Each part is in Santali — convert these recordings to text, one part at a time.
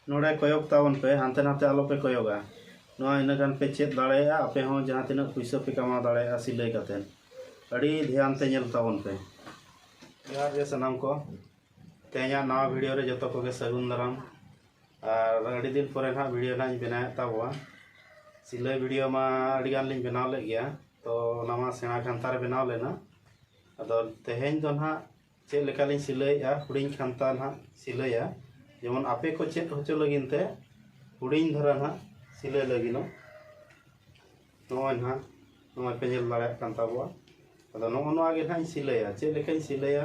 ᱱᱚᱰᱮ ᱠᱚᱭᱚᱜ ᱛᱟᱵᱚᱱ ᱯᱮ ᱦᱟᱱᱛᱮ ᱱᱟᱛᱮ ᱟᱞᱚ ᱯᱮ ᱠᱚᱭᱚᱜᱟ ᱱᱚᱣᱟ ᱤᱱᱟᱹ ᱜᱟᱱ ᱯᱮ ᱪᱮᱫ ᱫᱟᱲᱮᱭᱟᱜᱼᱟ ᱟᱯᱮ ᱦᱚᱸ ᱡᱟᱦᱟᱸ ᱛᱤᱱᱟᱹᱜ ᱯᱩᱭᱥᱟᱹ ᱯᱮ ᱠᱟᱢᱟᱣ ᱫᱟᱲᱮᱭᱟᱜᱼᱟ ᱥᱤᱞᱟᱹᱭ ᱠᱟᱛᱮ ᱟᱹᱰᱤ ᱫᱷᱮᱭᱟᱱ ᱛᱮ ᱧᱮᱞ ᱛᱟᱵᱚᱱ ᱯᱮ ᱡᱚᱦᱟᱨ ᱜᱮ ᱥᱟᱱᱟᱢ ᱠᱚ ᱛᱮᱦᱮᱧᱟᱜ ᱱᱟᱣᱟ ᱵᱷᱤᱰᱤᱭᱳ ᱨᱮ ᱡᱚᱛᱚ ᱠᱚᱜᱮ ᱥᱟᱹᱜᱩᱱ ᱫᱟᱨᱟᱢ ᱟᱨ ᱟᱹᱰᱤ ᱫᱤᱱ ᱯᱚᱨᱮ ᱱᱟᱦᱟᱜ ᱵᱷᱤᱰᱤᱭᱳ ᱱᱟᱦᱟᱜ ᱤᱧ ᱵᱮᱱᱟᱣᱮᱫ ᱛᱟᱵᱚᱣᱟ ᱥᱤᱞᱟᱹᱭ ᱵᱷᱤᱰᱤᱭᱳ ᱢᱟ ᱟᱹᱰᱤ ᱜᱟᱱ ᱞᱤᱧ ᱵᱮᱱᱟᱣ ᱞᱮᱫ ᱜᱮᱭᱟ ᱛᱚ ᱚᱱᱟ ᱢᱟ ᱥᱮᱬᱟ ᱠᱟᱱᱛᱷᱟ ᱨᱮ ᱵᱮᱱᱟᱣ ᱞᱮᱱᱟ ᱟᱫᱚ ᱛᱮᱦᱮᱧ ᱫᱚ ᱱᱟᱦᱟᱜ ᱪᱮᱫ ᱞᱮᱠᱟ ᱞᱤᱧ ᱥᱤᱞᱟᱹᱭᱮᱜᱼᱟ ᱦᱩᱰᱤᱧ ᱠᱷᱟᱱᱛᱟ ᱱᱟᱦᱟᱜ ᱥᱤᱞᱟᱹᱭᱟ ᱡᱮᱢᱚᱱ ᱟᱯᱮ ᱠᱚ ᱪᱮᱫ ᱦᱚᱪᱚ ᱞᱟᱹᱜᱤᱫ ᱛᱮ ᱦᱩᱰᱤᱧ ᱫᱷᱟᱨᱟ ᱱᱟᱦᱟᱜ ᱥᱤᱞᱟᱹᱭ ᱞᱟᱹᱜᱤᱫᱚᱜ ᱱᱚᱜᱼᱚᱭ ᱱᱟᱦᱟᱜ ᱱᱚᱜᱼᱚᱭ ᱯᱮ ᱧᱮᱞ ᱫᱟᱲᱮᱭᱟᱜ ᱠᱟᱱ ᱛᱟᱵᱚᱣᱟ ᱟᱫᱚ ᱱᱚᱜᱼᱚ ᱱᱚᱣᱟ ᱜᱮ ᱱᱟᱦᱟᱜ ᱤᱧ ᱥᱤᱞᱟᱹᱭᱟ ᱪᱮᱫ ᱞᱮᱠᱟᱧ ᱥᱤᱞᱟᱹᱭᱟ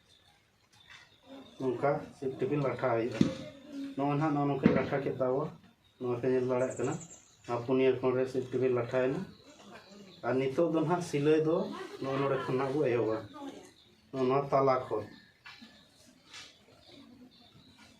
ᱱᱚᱝᱠᱟ ᱥᱤᱯ ᱴᱤᱯᱤ ᱞᱟᱴᱷᱟ ᱦᱩᱭᱩᱜᱼᱟ ᱱᱚᱜᱼᱚᱭ ᱱᱟᱦᱟᱜ ᱱᱚᱜᱼᱚ ᱱᱚᱝᱠᱟᱧ ᱞᱟᱴᱷᱟ ᱠᱮᱫ ᱛᱟᱵᱚᱣᱟ ᱱᱚᱣᱟ ᱯᱮ ᱧᱮᱞ ᱫᱟᱲᱮᱭᱟᱜ ᱠᱟᱱᱟ ᱟᱨ ᱯᱩᱱᱭᱟᱹ ᱠᱷᱚᱸᱰ ᱨᱮ ᱥᱤᱯ ᱴᱤᱯᱤ ᱞᱟᱴᱷᱟᱭᱮᱱᱟ ᱟᱨ ᱱᱤᱛᱚᱜ ᱫᱚ ᱱᱟᱦᱟᱜ ᱥᱤᱞᱟᱹᱭ ᱫᱚ ᱱᱚᱜᱼᱚ ᱱᱚᱰᱮ ᱠᱷᱚᱱ ᱱᱟᱦᱟᱜ ᱵᱚ ᱮᱦᱚᱵᱟ ᱱᱚᱣᱟ ᱛᱟᱞᱟ ᱠᱷᱚᱱ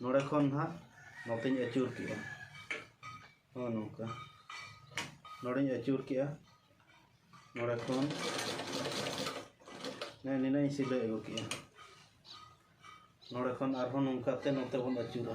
ᱱᱚᱰᱮ ᱠᱷᱚᱱ ᱱᱟᱦᱟᱜ ᱱᱚᱛᱮᱧ ᱟᱹᱪᱩᱨ ᱠᱮᱜᱼᱟ ᱦᱚᱸ ᱱᱚᱝᱠᱟ ᱱᱚᱰᱮᱧ ᱟᱹᱪᱩᱨ ᱠᱮᱜᱼᱟ ᱱᱚᱰᱮ ᱠᱷᱚᱱ ᱱᱮ ᱱᱤᱱᱟᱹᱧ ᱥᱤᱞᱟᱹᱭ ᱟᱹᱜᱩ ᱠᱮᱜᱼᱟ ᱱᱚᱰᱮ ᱠᱷᱚᱱ ᱟᱨᱦᱚᱸ ᱱᱚᱝᱠᱟᱛᱮ ᱱᱚᱛᱮ ᱵᱚᱱ ᱟᱹᱪᱩᱨᱟ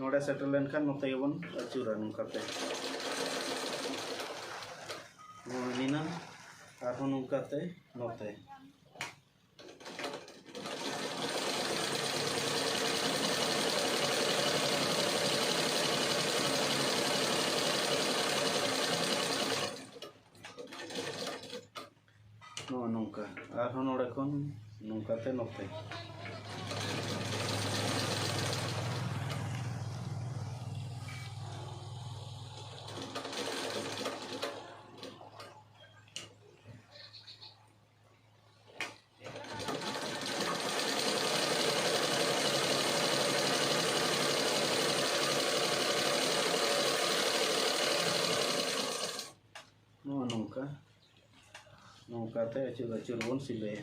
ᱱᱚᱰᱮ ᱥᱮᱴᱮᱨ ᱞᱮᱱᱠᱷᱟᱱ ᱱᱚᱛᱮ ᱜᱮᱵᱚᱱ ᱟᱹᱪᱩᱨᱟ ᱱᱚᱝᱠᱟᱛᱮ ᱱᱚᱣᱟ ᱦᱤᱱᱟ ᱟᱨᱦᱚᱸ ᱱᱚᱝᱠᱟᱛᱮ ᱱᱚᱛᱮ ᱱᱚᱜᱼᱚ ᱱᱚᱝᱠᱟ ᱟᱨᱦᱚᱸ ᱱᱚᱰᱮ ᱠᱷᱚᱱ ᱱᱚᱝᱠᱟᱛᱮ ᱱᱚᱛᱮ ᱱᱚᱣᱟ ᱱᱚᱝᱠᱟ ᱱᱚᱝᱠᱟᱛᱮ ᱟᱹᱪᱩᱨ ᱟᱹᱪᱩᱨ ᱵᱚᱱ ᱥᱤᱞᱟᱹᱭᱟ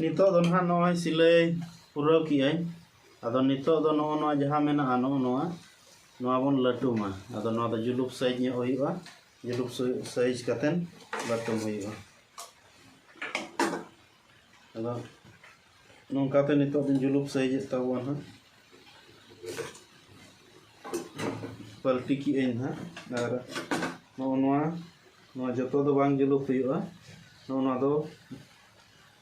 ᱱᱤᱛᱚᱜ ᱫᱚ ᱱᱟᱦᱟᱜ ᱱᱚᱜᱼᱚᱭ ᱥᱤᱞᱟᱹᱭ ᱯᱩᱨᱟᱹᱣ ᱠᱮᱜᱼᱟᱹᱧ ᱟᱫᱚ ᱱᱤᱛᱚᱜ ᱫᱚ ᱱᱚᱜᱼᱚ ᱱᱚᱣᱟ ᱡᱟᱦᱟᱸ ᱢᱮᱱᱟᱜᱼᱟ ᱱᱚᱜᱼᱚ ᱱᱚᱣᱟ ᱱᱚᱣᱟ ᱵᱚᱱ ᱞᱟᱹᱴᱩᱢᱟ ᱟᱫᱚ ᱱᱚᱣᱟ ᱫᱚ ᱡᱩᱞᱩᱯ ᱥᱟᱺᱦᱤᱡ ᱧᱚᱜ ᱦᱩᱭᱩᱜᱼᱟ ᱡᱩᱞᱩᱯ ᱥᱟᱭᱤᱡᱽ ᱠᱟᱛᱮᱫ ᱞᱟᱹᱴᱩᱢ ᱦᱩᱭᱩᱜᱼᱟ ᱟᱫᱚ ᱱᱚᱝᱠᱟᱛᱮ ᱱᱤᱛᱚᱜ ᱫᱚᱧ ᱡᱩᱞᱩᱯ ᱥᱟᱭᱤᱡᱮᱫ ᱛᱟᱵᱚᱱᱟ ᱦᱟᱸᱜ ᱯᱟᱞᱴᱤ ᱠᱮᱜ ᱟᱹᱧ ᱦᱟᱸᱜ ᱟᱨ ᱱᱚᱜᱼᱚ ᱱᱚᱣᱟ ᱱᱚᱣᱟ ᱡᱚᱛᱚ ᱫᱚ ᱵᱟᱝ ᱡᱩᱞᱩᱯ ᱦᱩᱭᱩᱜᱼᱟ ᱱᱚᱜᱼᱚ ᱱᱚᱣᱟ ᱫᱚ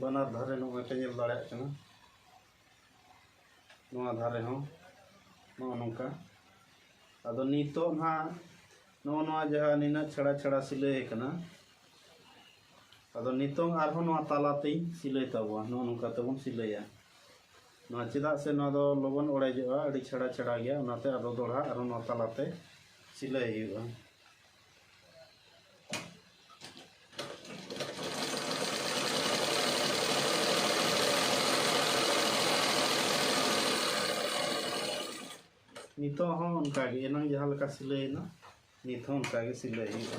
ᱵᱟᱱᱟᱨ ᱫᱷᱟᱨᱮ ᱱᱚᱜᱼᱚᱭ ᱯᱮ ᱧᱮᱞ ᱫᱟᱲᱮᱭᱟᱜ ᱠᱟᱱᱟ ᱱᱚᱣᱟ ᱫᱷᱟᱨᱮ ᱦᱚᱸ ᱱᱚᱜᱼᱚ ᱱᱚᱝᱠᱟ ᱟᱫᱚ ᱱᱤᱛᱚᱜ ᱱᱟᱦᱟᱜ ᱱᱚᱜᱼᱚ ᱱᱚᱣᱟ ᱡᱟᱦᱟᱸ ᱱᱤᱱᱟᱹᱜ ᱪᱷᱟᱲᱟ ᱪᱷᱟᱲᱟ ᱥᱤᱞᱟᱹᱭ ᱟᱠᱟᱱᱟ ᱟᱫᱚ ᱱᱤᱛᱚᱝ ᱟᱨᱦᱚᱸ ᱱᱚᱣᱟ ᱛᱟᱞᱟᱛᱮᱧ ᱥᱤᱞᱟᱹᱭ ᱛᱟᱵᱚᱣᱟ ᱱᱚᱜᱼᱚ ᱱᱚᱝᱠᱟ ᱛᱮᱵᱚᱱ ᱥᱤᱞᱟᱹᱭᱟ ᱱᱚᱣᱟ ᱪᱮᱫᱟᱜ ᱥᱮ ᱱᱚᱣᱟ ᱫᱚ ᱞᱚᱜᱚᱱ ᱚᱲᱮᱡᱚᱜᱼᱟ ᱟᱹᱰᱤ ᱪᱷᱟᱲᱟ ᱪᱷᱟᱲᱟ ᱜᱮᱭᱟ ᱚᱱᱟᱛᱮ ᱟᱫᱚ ᱫᱚᱲᱦᱟ ᱟᱨᱦᱚᱸ ᱱᱚᱣᱟ ᱛᱟᱞᱟᱛᱮ ᱥᱤᱞᱟᱹᱭ ᱦᱩᱭᱩᱜᱼᱟ ᱱᱤᱛᱚᱜ ᱦᱚᱸ ᱚᱱᱠᱟᱜᱮ ᱮᱱᱟᱝ ᱡᱟᱦᱟᱸ ᱞᱮᱠᱟ ᱥᱤᱞᱟᱹᱭᱮᱱᱟ ᱱᱤᱛ ᱦᱚᱸ ᱚᱱᱠᱟᱜᱮ ᱥᱤᱞᱟᱹᱭ ᱦᱩᱭᱩᱜᱼᱟ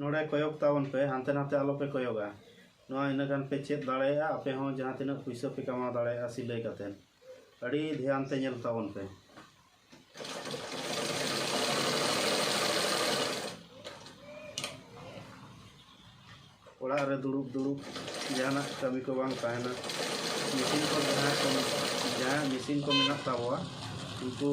ᱱᱚᱰᱮ ᱠᱚᱭᱚᱜ ᱛᱟᱵᱚᱱ ᱯᱮ ᱦᱟᱱᱛᱮ ᱱᱷᱟᱛᱮ ᱟᱞᱚ ᱯᱮ ᱠᱚᱭᱚᱜᱟ ᱱᱚᱣᱟ ᱤᱱᱟᱹ ᱜᱟᱱ ᱯᱮ ᱪᱮᱫ ᱫᱟᱲᱮᱭᱟᱜᱼᱟ ᱟᱯᱮ ᱦᱚᱸ ᱡᱟᱦᱟᱸ ᱛᱤᱱᱟᱹᱜ ᱯᱩᱭᱥᱟᱹ ᱯᱮ ᱠᱟᱢᱟᱣ ᱫᱟᱲᱮᱭᱟᱜᱼᱟ ᱥᱤᱞᱟᱹᱭ ᱠᱟᱛᱮ ᱟᱹᱰᱤ ᱫᱷᱮᱭᱟᱱ ᱛᱮ ᱧᱮᱞ ᱛᱟᱵᱚᱱ ᱯᱮ ᱚᱲᱟᱜ ᱨᱮ ᱫᱩᱲᱩᱵ ᱫᱩᱲᱩᱵ ᱡᱟᱦᱟᱱᱟᱜ ᱠᱟᱹᱢᱤ ᱠᱚ ᱵᱟᱝ ᱛᱟᱦᱮᱱᱟ ᱢᱮᱥᱤᱱ ᱠᱚ ᱡᱟᱦᱟᱸ ᱠᱚ ᱡᱟᱦᱟᱸ ᱢᱮᱥᱤᱱ ᱠᱚ ᱢᱮᱱᱟᱜ ᱛᱟᱵᱚᱣᱟ ᱩᱱᱠᱩ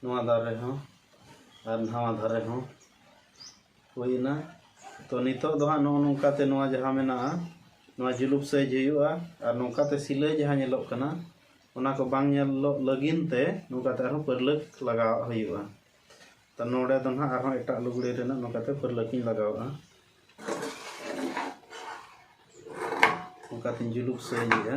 ᱱᱚᱣᱟ ᱫᱷᱟᱨᱮ ᱦᱚᱸ ᱟᱨ ᱱᱟᱣᱟ ᱫᱷᱟᱨᱮ ᱦᱚᱸ ᱦᱩᱭᱱᱟ ᱛᱚ ᱱᱤᱛᱚᱜ ᱫᱚ ᱦᱟᱸᱜ ᱱᱚᱜᱼᱚ ᱱᱚᱝᱠᱟᱛᱮ ᱱᱚᱣᱟ ᱡᱟᱦᱟᱸ ᱢᱮᱱᱟᱜᱼᱟ ᱱᱚᱣᱟ ᱡᱩᱞᱩᱯ ᱥᱟᱹᱭᱤᱡ ᱦᱩᱭᱩᱜᱼᱟ ᱟᱨ ᱱᱚᱝᱠᱟᱛᱮ ᱥᱤᱞᱟᱹᱭ ᱡᱟᱦᱟᱸ ᱧᱮᱞᱚᱜ ᱠᱟᱱᱟ ᱚᱱᱟ ᱠᱚ ᱵᱟᱝ ᱧᱮᱞᱚᱜ ᱞᱟᱹᱜᱤᱫ ᱛᱮ ᱱᱚᱝᱠᱟᱛᱮ ᱟᱨᱦᱚᱸ ᱯᱟᱹᱨᱞᱟᱹᱠ ᱞᱟᱜᱟᱣᱟᱜ ᱦᱩᱭᱩᱜᱼᱟ ᱛᱚ ᱱᱚᱰᱮ ᱫᱚ ᱦᱟᱸᱜ ᱟᱨᱦᱚᱸ ᱮᱴᱟᱜ ᱞᱩᱜᱽᱲᱤ ᱨᱮᱱᱟᱜ ᱱᱚᱝᱠᱟᱛᱮ ᱯᱟᱹᱨᱞᱟᱹᱠᱤᱧ ᱞᱟᱜᱟᱣᱟᱜᱼᱟ ᱚᱱᱠᱟᱛᱮᱧ ᱡᱩᱞᱩᱯ ᱥᱟᱹᱭᱮᱜᱼᱟ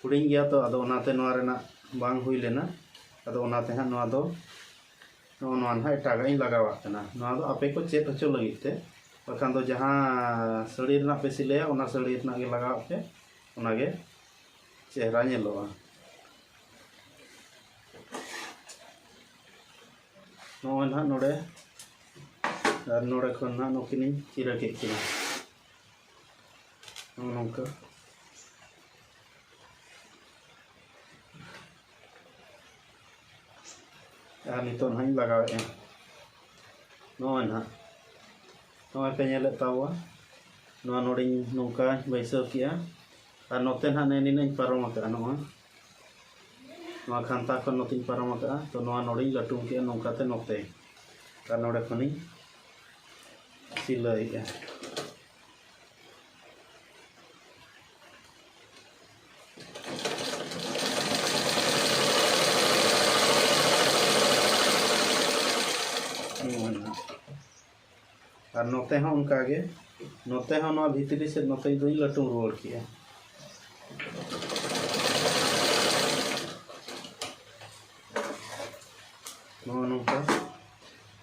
ᱦᱩᱰᱤᱧ ᱜᱮᱭᱟ ᱛᱚ ᱟᱫᱚ ᱚᱱᱟᱛᱮ ᱱᱚᱣᱟ ᱨᱮᱱᱟᱜ ᱵᱟᱝ ᱦᱩᱭ ᱞᱮᱱᱟ ᱟᱫᱚ ᱚᱱᱟᱛᱮ ᱦᱟᱸᱜ ᱱᱚᱣᱟ ᱫᱚ ᱱᱚᱜᱼᱚ ᱱᱚᱣᱟ ᱱᱟᱦᱟᱜ ᱮᱴᱟᱜᱟᱜ ᱤᱧ ᱞᱟᱜᱟᱣᱟᱜ ᱠᱟᱱᱟ ᱱᱚᱣᱟ ᱫᱚ ᱟᱯᱮ ᱠᱚ ᱪᱮᱫ ᱦᱚᱪᱚ ᱞᱟᱹᱜᱤᱫ ᱛᱮ ᱵᱟᱠᱷᱟᱱ ᱫᱚ ᱡᱟᱦᱟᱸ ᱥᱟᱹᱲᱤ ᱨᱮᱱᱟᱜ ᱯᱮ ᱥᱤᱞᱟᱹᱭᱟ ᱚᱱᱟ ᱥᱟᱹᱲᱤ ᱨᱮᱱᱟᱜ ᱜᱮ ᱞᱟᱜᱟᱣᱟᱜ ᱯᱮ ᱚᱱᱟᱜᱮ ᱪᱮᱦᱨᱟ ᱧᱮᱞᱚᱜᱼᱟ ᱱᱚᱜᱼᱚᱭ ᱱᱟᱦᱟᱜ ᱱᱚᱰᱮ ᱟᱨ ᱱᱚᱰᱮ ᱠᱷᱚᱱ ᱱᱟᱦᱟᱜ ᱱᱩᱠᱤᱱᱤᱧ ᱪᱤᱨᱟᱹ ᱠᱮᱫ ᱠᱤᱱᱟ ᱱᱚᱜᱼᱚ ᱱᱚᱝᱠᱟ ᱟᱨ ᱱᱤᱛᱚᱜ ᱱᱟᱦᱟᱜ ᱤᱧ ᱞᱟᱜᱟᱣᱮᱫᱼᱟ ᱱᱚᱜᱼᱚᱭ ᱱᱟᱦᱟᱜ ᱱᱚᱜᱼᱚᱭ ᱯᱮ ᱧᱮᱞᱮᱫ ᱛᱟᱵᱚᱣᱟ ᱱᱚᱣᱟ ᱱᱚᱰᱮᱧ ᱱᱚᱝᱠᱟᱧ ᱵᱟᱹᱭᱥᱟᱹᱣ ᱠᱮᱜᱼᱟ ᱟᱨ ᱱᱚᱛᱮ ᱱᱟᱦᱟᱜ ᱱᱮ ᱱᱤᱱᱟᱹᱧ ᱯᱟᱨᱚᱢ ᱟᱠᱟᱫᱼᱟ ᱱᱚᱜᱼᱚᱭ ᱱᱚᱣᱟ ᱠᱷᱟᱱᱛᱟ ᱠᱷᱚᱱ ᱱᱚᱛᱮᱧ ᱯᱟᱨᱚᱢ ᱟᱠᱟᱫᱼᱟ ᱛᱚ ᱱᱚᱣᱟ ᱱᱚᱰᱮᱧ ᱞᱟᱹᱴᱩᱢ ᱠᱮᱜᱼᱟ ᱱᱚᱝᱠᱟᱛᱮ ᱱᱚᱛᱮ ᱟᱨ ᱱᱚᱰᱮ ᱠᱷᱚᱱᱤᱧ ᱥᱤᱞᱟᱹᱭᱮᱜᱼᱟ ᱟᱨ ᱱᱚᱛᱮ ᱦᱚᱸ ᱚᱱᱠᱟ ᱜᱮ ᱱᱚᱛᱮ ᱦᱚᱸ ᱱᱚᱣᱟ ᱵᱷᱤᱛᱨᱤ ᱥᱮᱫ ᱱᱚᱛᱮ ᱫᱚᱧ ᱞᱟᱹᱴᱩ ᱨᱩᱣᱟᱹᱲ ᱠᱮᱜᱼᱟ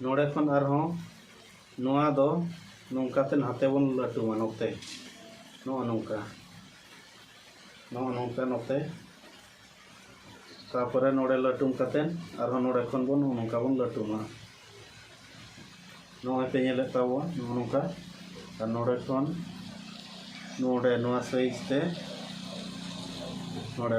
ᱱᱚᱰᱮ ᱠᱷᱚᱱ ᱟᱨᱦᱚᱸ ᱱᱚᱣᱟ ᱫᱚ ᱱᱚᱝᱠᱟ ᱛᱮ ᱱᱟᱛᱮ ᱵᱚᱱ ᱞᱟᱹᱴᱩᱢᱟ ᱱᱚᱛᱮ ᱱᱚᱜᱼᱚ ᱱᱚᱝᱠᱟ ᱱᱚᱜᱼᱚ ᱱᱚᱝᱠᱟ ᱱᱚᱛᱮ ᱛᱟᱯᱚᱨᱮ ᱱᱚᱰᱮ ᱞᱟᱹᱴᱩᱢ ᱠᱟᱛᱮ ᱟᱨᱦᱚᱸ ᱱᱚᱰᱮ ᱠᱷᱚᱱ ᱵᱚᱱ ᱱᱚᱜᱼᱚ ᱱᱚᱝᱠᱟ ᱵᱚᱱ ᱞᱟᱹᱴᱩᱢᱟ ᱱᱚᱜᱼᱚᱭ ᱯᱮ ᱧᱮᱞᱮᱫ ᱛᱟᱵᱚᱱ ᱱᱚᱜᱼᱚ ᱱᱚᱝᱠᱟ ᱟᱨ ᱱᱚᱰᱮ ᱠᱷᱚᱱ ᱱᱚᱰᱮ ᱱᱚᱣᱟ ᱥᱟᱭᱤᱡ ᱛᱮ ᱱᱚᱰᱮ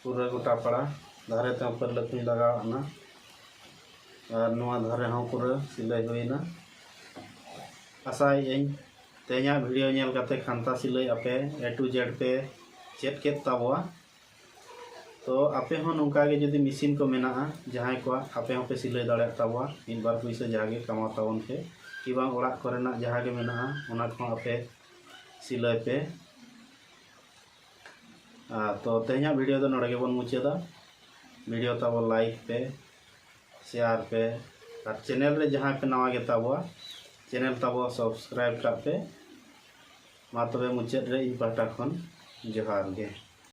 ᱯᱩᱨᱟᱹ ᱜᱚᱴᱟ ᱯᱟᱲᱟ ᱫᱷᱟᱨᱮ ᱛᱮᱦᱚᱸ ᱯᱟᱹᱨᱞᱟᱹ ᱠᱚᱧ ᱞᱟᱜᱟᱣ ᱟᱫᱼᱱᱟ ᱟᱨ ᱱᱚᱣᱟ ᱫᱷᱟᱨᱮ ᱦᱚᱸ ᱯᱩᱨᱟᱹ ᱥᱤᱞᱟᱹᱭ ᱦᱩᱭᱮᱱᱟ ᱟᱥᱟᱭᱮᱫ ᱟᱹᱧ ᱛᱮᱦᱮᱧᱟᱜ ᱵᱷᱤᱰᱤᱭᱳ ᱧᱮᱞ ᱠᱟᱛᱮ ᱠᱷᱟᱱᱛᱟ ᱥᱤᱞᱟᱹᱭ ᱟᱯᱮ ᱮ ᱴᱩ ᱡᱮᱰ ᱯᱮ ᱪᱮᱫ ᱠᱮᱫ ᱛᱟᱵᱚᱣᱟ ᱛᱚ ᱟᱯᱮ ᱦᱚᱸ ᱱᱚᱝᱠᱟ ᱜᱮ ᱡᱩᱫᱤ ᱢᱮᱥᱤᱱ ᱠᱚ ᱢᱮᱱᱟᱜᱼᱟ ᱡᱟᱦᱟᱸᱭ ᱠᱚᱣᱟᱜ ᱟᱯᱮ ᱦᱚᱸ ᱯᱮ ᱥᱤᱞᱟᱹᱭ ᱫᱟᱲᱮᱭᱟᱜ ᱛᱟᱵᱚᱣᱟ ᱢᱤᱫ ᱵᱟᱨ ᱯᱩᱭᱥᱟᱹ ᱡᱟᱦᱟᱸ ᱜᱮ ᱠᱟᱢᱟᱣ ᱛᱟᱵᱚᱱ ᱯᱮ ᱠᱤ ᱵᱟᱝ ᱚᱲᱟᱜ ᱠᱚᱨᱮᱱᱟᱜ ᱡᱟᱦᱟᱸ ᱜᱮ ᱢᱮᱱᱟᱜᱼᱟ ᱚᱱᱟ ᱠᱚᱦᱚᱸ ᱟᱯᱮ ᱥᱤᱞᱟᱹᱭ ᱯᱮ ᱛᱚ ᱛᱮᱦᱮᱧᱟᱜ ᱵᱷᱤᱰᱤᱭᱳ ᱫᱚ ᱱᱚᱰᱮ ᱜᱮᱵᱚᱱ ᱢᱩᱪᱟᱹᱫᱟ ᱵᱷᱤᱰᱤᱭᱳ ᱛᱟᱵᱚ ᱞᱟᱭᱤᱠ ᱯᱮ ᱥᱮᱭᱟᱨ ᱯᱮ ᱟᱨ ᱪᱮᱱᱮᱞ ᱨᱮ ᱡᱟᱦᱟᱸᱭ ᱯᱮ ᱱᱟᱣᱟ ᱜᱮ ᱛᱟᱵᱚᱣᱟ ᱪᱮᱱᱮᱞ ᱛᱟᱵᱚ ᱥᱟᱵᱥᱠᱨᱟᱭᱤᱵ ᱠᱟᱜ ᱯᱮ ᱢᱟ ᱛᱚᱵᱮ ᱢᱩᱪᱟᱹᱫ ᱨᱮ ᱤᱧ ᱯᱟᱦᱴᱟ ᱠᱷᱚᱱ ᱡᱚᱦᱟᱨ ᱜᱮ